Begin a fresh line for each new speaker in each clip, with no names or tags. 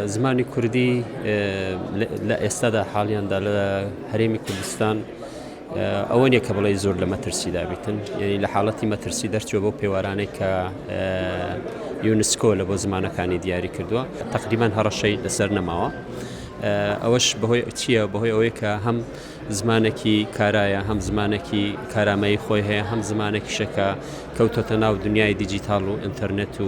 زمانی کوردی لە ئێستادا حاڵیاندا لە هەرێمی کوردستان ئەوە نیە کە بڵێ زۆر لە مەترسی دابیتن یعنی لە حاڵەتی مەترسی دەرچوە بۆ پێوارانێک کە یونسکۆ لە بۆ زمانەکانی دیاری کردووە تقریبان هەڕەشەی لەسەر نەماوە. ئەوەش بەهۆی چییە بەهۆی ئەوەیە کە هەم زمانێکی کارایە هەم زمانێکی کارامەیی خۆی هەیە هەم زمانێکی شەکە کەوتۆتە ناو دنیای دیجیتال و ئینتەرنێت و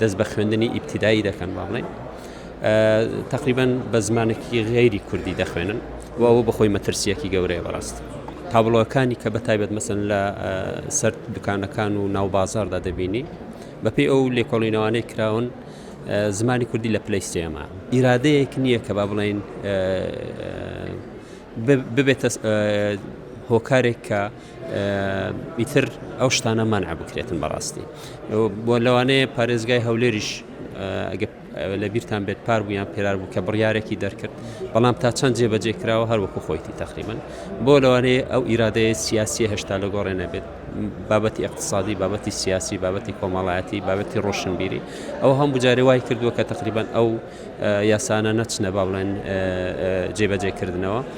دەست بە خوێندنی ئیبتیدایی دەکەن با بڵێن تقریبان بە زمانێکی غێری کوردی دەخوێنن و ئەوە بەخۆی مەترسیەکی گەورەیە بەڕاست تابلۆەکانی کە بەتایبەت مەسن لە سەر دوکانەکان و ناو بازاردا دەبینی بەپی ئەو لێکۆڵینەوانەی کراون زمانی کوردی لە پلی سێما ئیرادەیەک نییە کە با بڵین ببێتە هۆکارێک کە ئیتر ئەو شتانە مانع بکرێتن بەڕاستی بۆ لەوانەیە پارێزگای هەولێریش لە بیرتان بێت پار بوویان پێرار بوو کە بڕیارێکی دەرکرد بەڵام تا چەند جێبەجێ کراوە هەروەکو خۆیتی تەقریبن بۆ لەوانەیە ئەو ئیرادەیە سیاسی هێشتا لە گۆڕێ نەبێت بابەتی اقتصادی بابەتی سیاسی بابەتی کۆمەڵایەتی بابەتی ڕۆشنبیری ئەو هەم بجارێ وای کردووە کە تقریبان ئەو یاسانە نەچنە با بڵێن جێبەجێکردنەوە